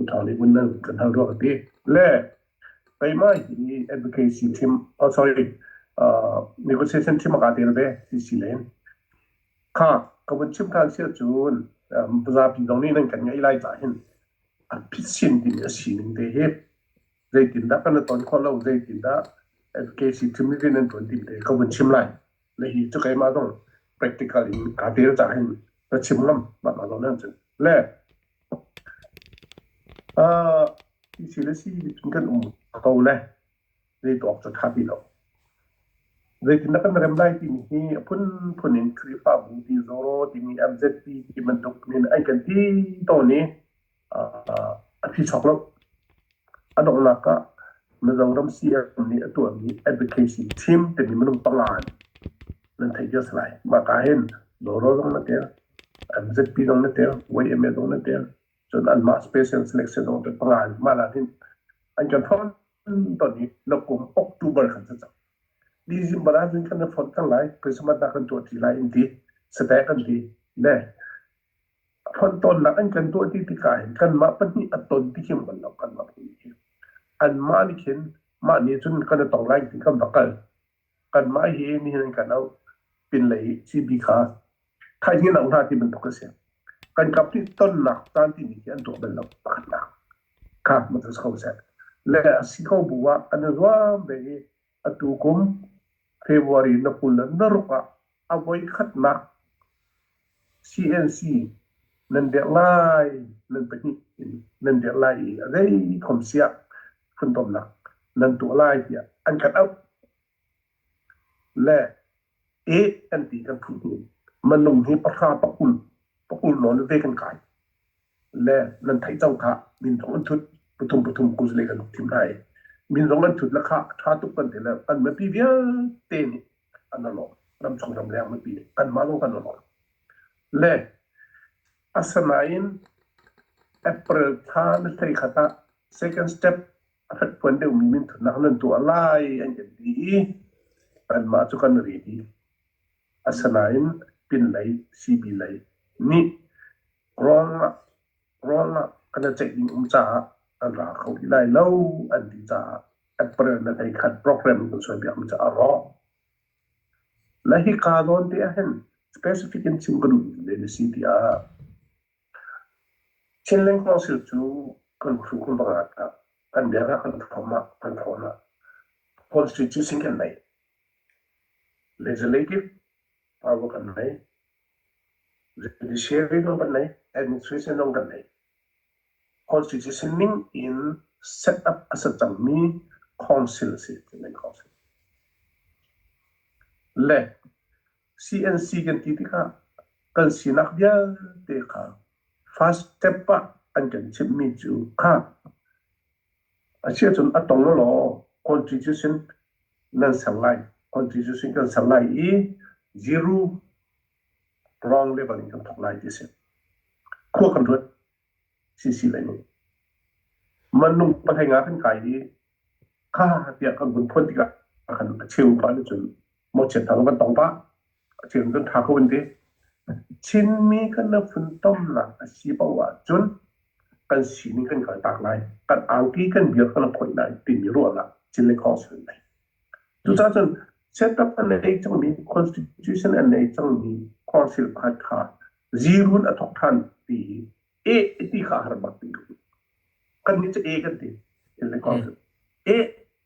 Utau nih vun lal kan hal ruak ti le taima hi advocacy thim oh sorry uh, negotiation thim ka tel ve si si len kha ka vun chim than sia chun zapi dong ni nan kan ngai lai ta hin a pitsin tin a sining te hi zeitin da kan ton khon lo zeitin da advocacy thim vi nan ton tin te ka vun chim lai le hi chu kai ma dong practical in ka tel ta hin ka chim ngam ba ma lo nan chu le Hi thil a si nihcun kan um ko le zei tuah awk cu a ṭha ti lo. Zeitindah kan rem lai timi hi a phunphun in Khrihfabu Tizaw timi MZP ti bantuk nih an kan ti tawn i a thi chawk lo. A donghnak ah Mizoram CM nih a tuahmi advocacy team timi minung panga in nan theih cio a si lai. Mahka hin Doro zong an ṭial. An zatpi zong na tel, YMLA zong na tel. Cun anmah special selection zong te panga in mah laan hin an kan form ton i na kum October kan sa cang. December ah cun kan na form cang lai, Christmas nak kan tuah ti lai in ti, stack an ti, ne. Fon ton nak an kan tuah ti tikah hin kanmah pahnih a ton ti kim kan lo, kanmah pahnih hi. Anmah nih khin mah nih cun kan i tong lai ti kan va kal. kanmah hi nihin an kan auh pinlei i CB kha thaihngin auh hna ti bantuk a si. Kan kap nih tonnak caan timi khi an tuah bal lo pakhatnak kha matusi kho seh. Le a si kho bu ah an i zuam ve i atu kum February na kul le na ruk ah A voikhatnak CNC nan dirh lai nan pahnih in nan dirh lai i a zei khom siah fundomnak nan tuah lai tiah an khat auh. Le e an ti kan phu hni. Manung hi pahra pakulh pakulh nawn ve kan kai. le nan theih cang kha min zong an thut pathum pathum kuzle kan thim lai min zong nan thut la kha tha tuk kan te le kan mipi vialte nih an lawm ram chung ram leng mipi nih kan ma zong kan lawm le asanain april thla na hlei khat ah second step a fat puan deuh mi min thutnak nan tuah lai an kan ti i kan ma cu kan ri di asanain pin lei cb lei nih Rawl ah kan i ceih ding um caah an ra kho rih lai lo an ti caah April na hlei khat program kan sualpiak mi cu a rawk. Na hi kaa nawn te ahhin specific in chim ka duhmi le na si tiah Chinlink hnawsir cu kan hru kan va ngat ka kan biakah kan thawm ah kan thawn ah constitution kan nei legislative power kan nei Judiciary zong kan nei, administration zong kan nei. Constitution ning in set up a si cangmi council a si, Chinland Council. Le CNC kan ti tikah kan sinak vialte kha first step ah an kan chimhmi cu kha A si ahcun a tong lawlaw country cu sin nan ser lai. Country cu sin kan ser lai i zero wrong level in kan thawk lai ti a si. Khua kan ruat sisi lai nih. Mannung pathai nga kan kai i kha tiah kan hun phuan tikah kan a cheu pa nih cun mo chen thang van tong ta chin cun tha kho an ti chinmi kan na fun tomnak a si paoh ah cun kan sining kan kal tak lai kan angki kan biar kan khoi lai timi ruahnak chin le khong sun lai cucah cun setup an nei cangmi constitution an nei cangmi council pakhat kha zirun a thok than ti e ti kha har bak ti kan ni cha e kan ti chin le khong sun e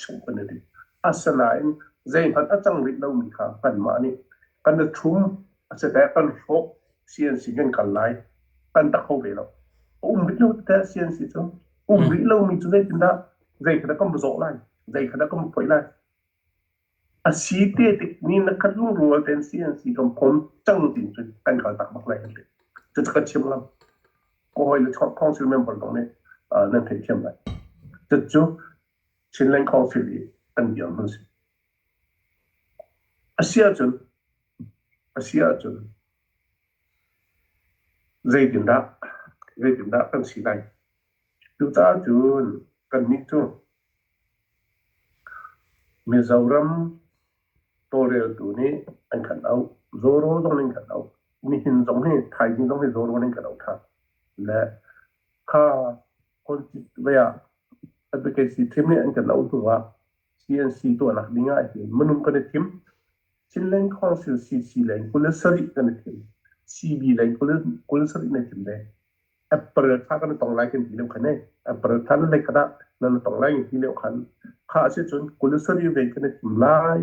hruhpan a ti. Asinain zeihmanh a cang rih lomi kha kanmah nih kan i thlum asiteh kan hrawh CNC kan kal lai kan tak kho ve lo. A um rih lo tete CNC cu. Um hmm. rih lomi cu zeitindah zeikhat kan zawh lai, zeikhat kan phoih lai. A si te tik ni na kan lungrual ten CNC kan phom cang tin cu kan kal tak bak lai ti. Cu ka chim ngam. Ko hoi le khong sil member dong nih nan thei thiam lai. Cu Chinland Caulfield i an dirhmun a si. A si ahcun, a si ahcun zeitindah, zeitindah kan si lai? Tucahcun kannih cu Mizoram tawlreltu nih an kan auh, Zoro zong nih an kan auh, nihin zong hi, thaizing zong hi Zoro nih an kan auh ṭhan. Le kha politics lei ah advocacy thim nih an kan auh hnu ah CNC tuahnak ding ah hin minung kan i thim Chinland Council CC leng kul le sarih kan i thim CB leng kul kul le sarih na thim le April thla kan tong lai kan ti leu khan April thla le kada nan tong lai ti leu khan kha se chun kul le sarih ve kan i thim lai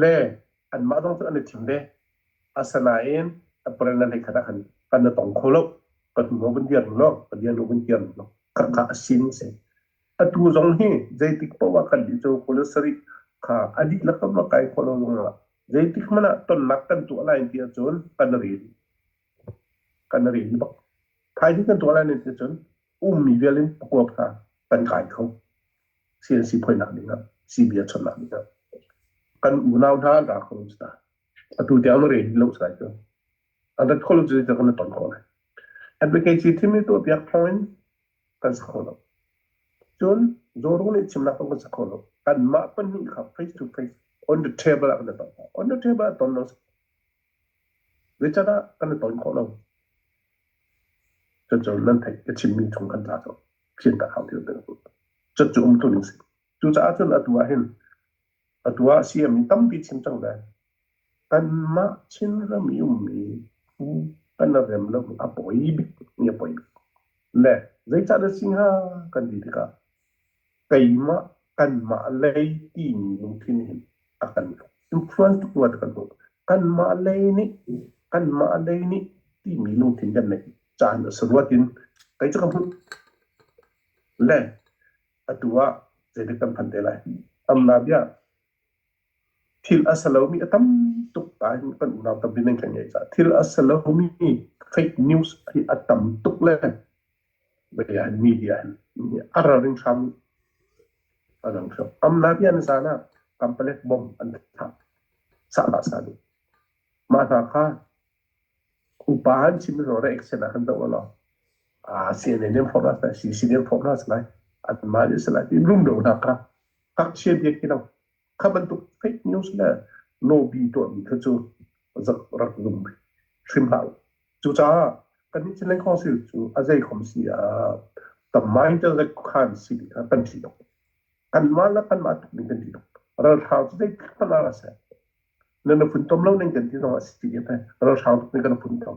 le anmah zong cu an i thim ve. Asinain April le khat ah khan kan i tong kho lo. Ka hnuho vun dir law, ka lianu vun dir law, khakha a sin a si. Atu zong hi zeitik paoh ah kan dih cu police sarih kha a dihlak in a kai khawh lo zongah zeitik hmanh ah tonnak kan tuah lai ti ahcun kan ril. kan rin bak. Thaizing kan tuah lai ning nih cun ummi vial in pakuap hna kan kai kho. CNC phoinak ning ah, CB a chonnak ning ah. Kan unau hna an ra kho sta. Atu tiang na reni lo sai cu. An rat kho lo cu kan na ton ko lai. Advocacy thimi tu piak thong in kan sa kho lo. Cun Zoru nih chimnak kan sa kho lo. Kan mah pahnih kha face to face on the table ah kan ton. On the table ah ton lo Zeican ah kan i ton khawh lo. Cuncun nan theih ka chimmi chung kan tla cu fian ka hau deuh deuh. Cucu cu um tlun a si. Cucaah cun atu ah hin atu ah CM nih tampi chim cang ve. Kanmah Chinram i ummi phu kan rem lo mi a poi bik mi a poi bik. Le zeican a si hnga kan ti tikah keimah, kanmah lei timi lungthin hi a kan hnuksuan tuk rua ti kan hmuh. Kanmah lei nih, kanmah lei nih timi lungthin kan neih caan a si ruat in kei cu kan hmuh. Le atu ah zeitik kan phan te lai? Amna bia. thil a sa lomi a tam tuk ta in kan unau tampi nan kan ngei caah thil a sa lomi fake news hi a tam tuk le bia in media in a raring hram a rang hram am na bia na zan ah kampalek bom an thah sahlah sani mah hna kha upa han chim ro re action ah han do lo a CNN for us na CCN for us lai an ma je sala ti rum do na ka ka che bia ki no Kha bantuk fake news le lobby tuahmi kha cu rak rak zum hrim hlah u. Cucaah kan nih Chin Land Council cu a zei khom si ah tamai te le khuakhan si kha kan ṭih lo. Kanmah le kanmah tuk ning kan ṭih lo. Ralhrang cu zei thil hmanh ah seh, nan i funtom lo ning kan ti zong a si ti te ralhrang tuk nih kan i funtom.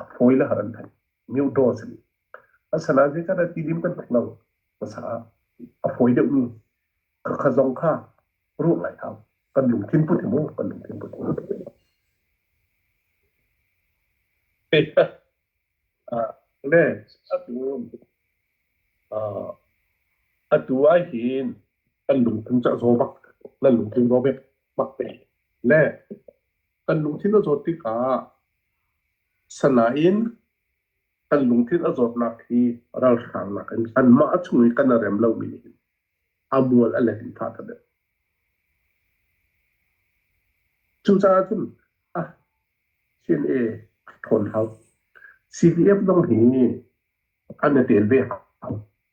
a fawi le har an thei mioto a si asana je kada ti lim kan tuk lo masa a fawi deuh mi ka kha zong kha ruang lai hau kan lungthin put mu kan lungthin put le atu atu ai hin kan lungthin cha zo bak la lungthin ro bek bak te le kan lungthin a zawt tikah sanain kan lungthin a zawtnak hi ralhrangnak in an mah a chung i kan a rem lomi nih a mual a let in thah ta deh cucaah cun ah chin e thawn hau cdf zong hi an i tel ve hau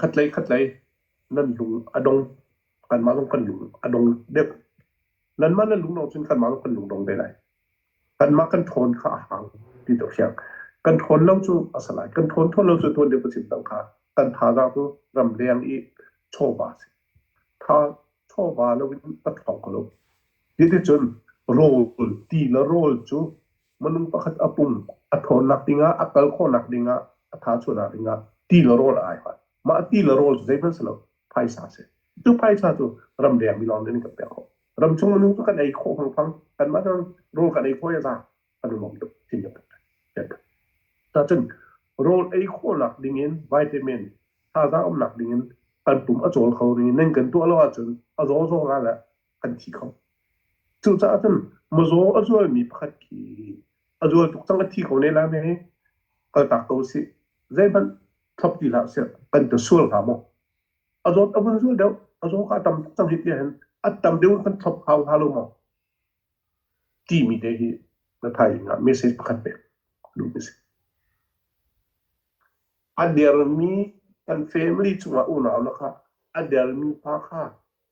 Khatlei khatlei nan lung a dong, kanmah zong kan lung a dong deuh. Nanmah na lung dong cun kanmah zong kan lung dong ve lai. Kanmah kan ṭhawn kha a hau ti tu hriang. Kan ṭhawn lo cu a si lai. Kan ṭhawn thawn lo cu tuan deuh ka chim cang kha. Kan thazaang cu ram leng i chawva a si. Tha chawva lo in ka ṭhawng ko lo. Hiticun rawl, ti le rawl cu Minung pakhat a pum a tthawnnak dingah a kal khawhnak dingah a thachuahnak dingah ti le rawl a ai hoi. Mah ti le rawl cu zeihmanh si lo phaisa a si. Cu phaisa cu ramdeng mi lawng nih an kan pek khawh. Ramchung minung cu kan ei khawh mangpang. Kanmah nih rawl kan ei khawh i za kan lawm tuk timi bantuk. Cacun rawl ei khawhnak dingin vitamin thazaang umnak dingin kan pum a cawl kho rih. Nan kan tuah lo ahcun a zawzawng ah le an thi kho. Cucaah cun mazaw a zualmi pakhat khi a zual tuk cang a thi kho ne la me hi kaltak ko si. Zeihmanh thop ti hlah sih kan te sual hnga maw. A zawt a vun zual deuh a zaw ka tam tuk cang hi ti hen a tam deuh kan thop hau hau lo maw. Timi te hi na thai nga message pakhat pe. Lu message. A dermi kan family chungah unau na kha a dermi pa kha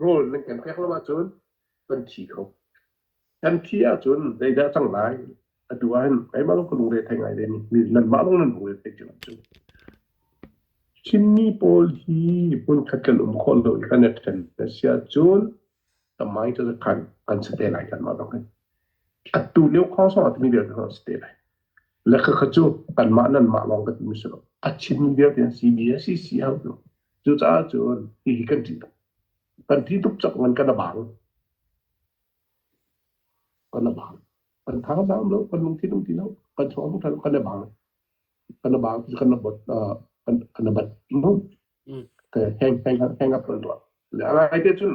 rawl nan kan pek lo ahcun kan thi kho. Kan thi ahcun zeidah cang lai? Atu ahhin keimah lawng ka lungre thei ngai le nanmah lawng nan lungre thei cu. Chinmi pawl hi hmunkhat kan um khawh lo i kan ṭhen na si ahcun the mind of the kan an si te lai kan mah bang hin. Atu lio khawng song ah timi vialte kan si te lai. Le ka cu kan mah nan mah lawng ka timi si lo. A Chinmi vialte an CBSE si hau Cucaah cun hihi kan ṭih tuk. Kan thi tuk cak nain kan a bang. Kan a bang. Kan thang dam lo, kan lung thi lung ti lo, kan chuang tuk lo, kan a bang. Kan a bang, kan a bot, kan a bat, hang, hang up run tuah. Ngai te cun,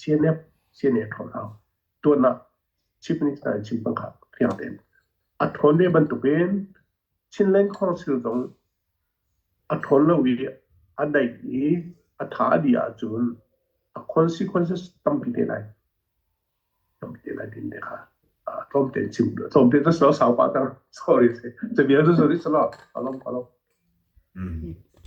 CNF, CNA ṭhawn hau. Tuan ah Chief Minister in chim pang kha fiang tein. A ṭhawn ve bantuk in Chinland Council zong a ṭhawn lo i a daih i a tha a dih ahcun a consequences tampi te lai. Tampi te lai din te kha tlawm tein chim. Tlawm tein cu sau pa ta. Sorry. Te vial cu sorry sala. Alom alom.